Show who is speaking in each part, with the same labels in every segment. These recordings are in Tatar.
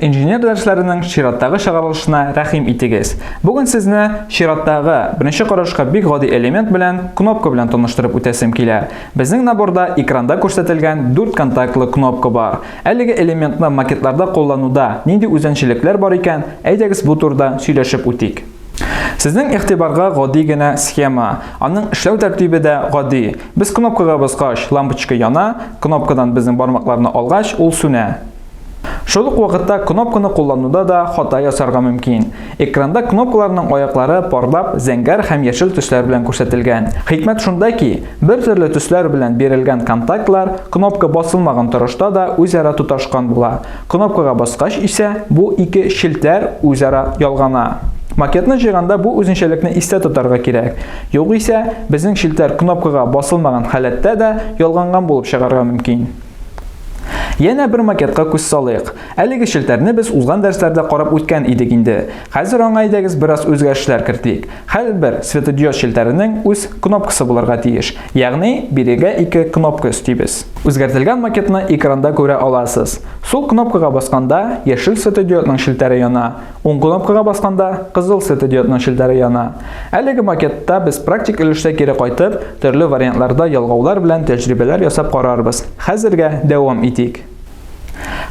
Speaker 1: Инженер дәресләренең чираттагы чыгарылышына рәхим итегез. Бүген сезне чираттагы беренче карашка бик гади элемент белән кнопка белән таныштырып үтәсем килә. Безнең наборда экранда күрсәтелгән 4 контактлы кнопка бар. Әлеге элементны макетларда куллануда нинди үзенчелекләр бар икән, әйдәгез бу турыда сөйләшеп үтик. Сезнең игътибарга гади генә схема. Аның эшләү тәртибе дә гади. Без кнопкага баскач, лампочка яна, кнопкадан безнең бармакларны алгач, ул сүнә. Шул ук вакытта кнопканы куллануда да хата ясарга мөмкин. Экранда кнопкаларның аяклары парлап, зәңгәр һәм яшел төсләр белән күрсәтелгән. Хикмәт шунда ки, бер төрле төсләр белән бирелгән контактлар кнопка басылмаган торышта да үзара тоташкан була. Кнопкага баскач исә, бу ике челтәр үзара ялгана. Макетны җыйганда бу үзенчәлекне истә тотарга кирәк. Югыйсә, безнең челтәр кнопкага басылмаган халәттә дә ялганган булып чыгарга мөмкин. Янә бер макетка күз салыйк. Әлеге челтәрне без узган дәрсләрдә карап үткән идек инде. Хәзер аңа әйдәгез бераз үзгәрешләр кертик. Хәлбер светодиод челтәренең үз кнопкасы булырга тиеш. Ягъни бирегә ике кнопка өстибез. Үзгәртелгән макетны экранда күрә аласыз. Сул кнопкага басканда яшел светодиодның челтәре яна. Уң кнопкага басканда кызыл светодиодның челтәре яна. Әлеге макетта без практик өлештә кире кайтып, төрле вариантларда ялгаулар белән тәҗрибәләр ясап карарбыз. Хәзергә дәвам итик.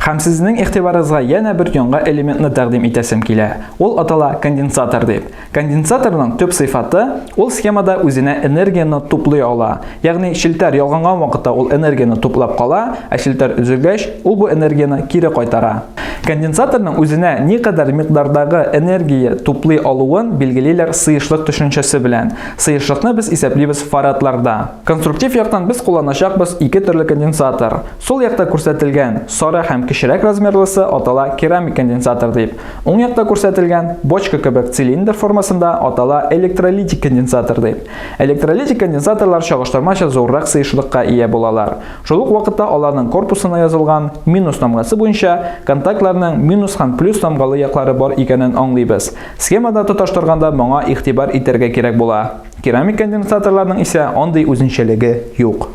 Speaker 1: Һәм сезнең игътибарыгызга янә бер яңа элементны тәкъдим итәсем килә. Ул атала конденсатор дип. Конденсаторның төп сыйфаты, ул схемада үзенә энергияне туплый ала. Ягъни челтәр ялганган вакытта ул энергияне туплап кала, ә челтәр өзелгәч, ул бу энергияне кире кайтара. Конденсаторның үзенә никадәр микъдардагы энергия туплый алуын билгелиләр сыешлык төшенчәсе белән. Сыешлыкны без исәплибез фарадларда. Конструктив яктан без кулланачакбыз ике төрле конденсатор. Сул якта күрсәтелгән сары һәм кечерәк размерлысы атала керамик конденсатор дип, уң якта күрсәтелгән бочка кебек цилиндр формасында атала электролитик конденсатор дип. Электролитик конденсаторлар чагыштырмача зуррак сыешлыкка ия булалар. Шул ук вакытта аларның корпусына язылган минус тамгасы буенча контактларның минус һәм плюс тамгалы яклары бар икәнен аңлыйбыз. Схемада тоташтырганда моңа игътибар итәргә кирәк була. Керамик конденсаторларның исә андый үзенчәлеге юк.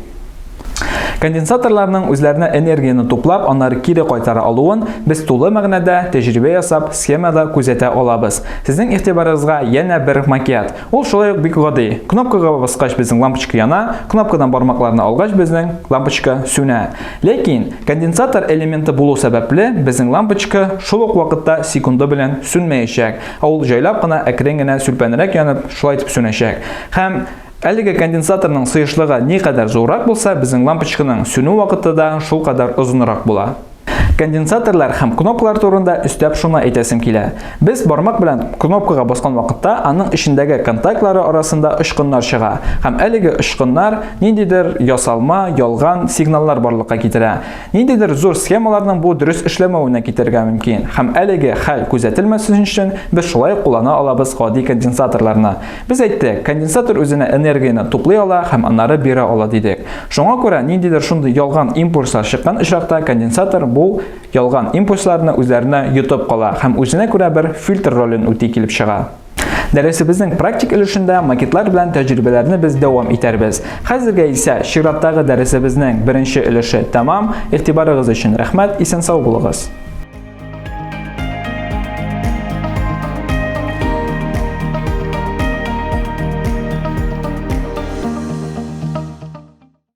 Speaker 1: Конденсаторларның үзләренә энергияне туплап, аннары кире кайтара алуын без тулы мәгънәдә тәҗрибә ясап, схемада күзәтә алабыз. Сезнең игътибарыгызга янә бер макет. Ул шулай ук бик гади. Кнопкага баскач безнең лампочка яна, кнопкадан бармакларны алгач безнең лампочка сүнә. Ләкин конденсатор элементы булу сәбәпле, безнең лампочка шул ук вакытта секунды белән сүнмәячәк. Ә ул җайлап кына, әкрен генә сүлпәнрәк янып, шулай итеп сүнәчәк. Һәм Әлеге конденсаторның сыешлыгы никадәр зуррак булса, безнең лампочканың сүнү вакыты да шул кадәр озынрак була. Конденсаторлар һәм кнопкалар турында өстәп шуны әйтәсем килә. Без бармак белән кнопкага баскан вакытта аның эчендәге контактлары арасында очкыннар чыга һәм әлеге очкыннар ниндидер ясалма, ялган сигналлар барлыкка китерә. Ниндидер зур схемаларның бу дөрес эшләмәвенә китәргә мөмкин. Һәм әлеге хәл күзәтелмәсен өчен без шулай ук куллана алабыз гади конденсаторларны. Без әйттек, конденсатор үзенә энергияне туплый ала һәм аннары бирә ала дидек. Шуңа күрә ниндидер шундый ялган импульслар чыккан очракта конденсатор бу ялган импульсларны үзләренә йотып кала һәм үзенә күрә бер фильтр ролен үти килеп чыга. Дәресебезнең практик өлешендә макетлар белән тәҗрибәләрне без дәвам итәрбез. Хәзергә исә чираттагы дәресебезнең беренче өлеше тәмам. Игътибарыгыз өчен рәхмәт, исән сау булыгыз.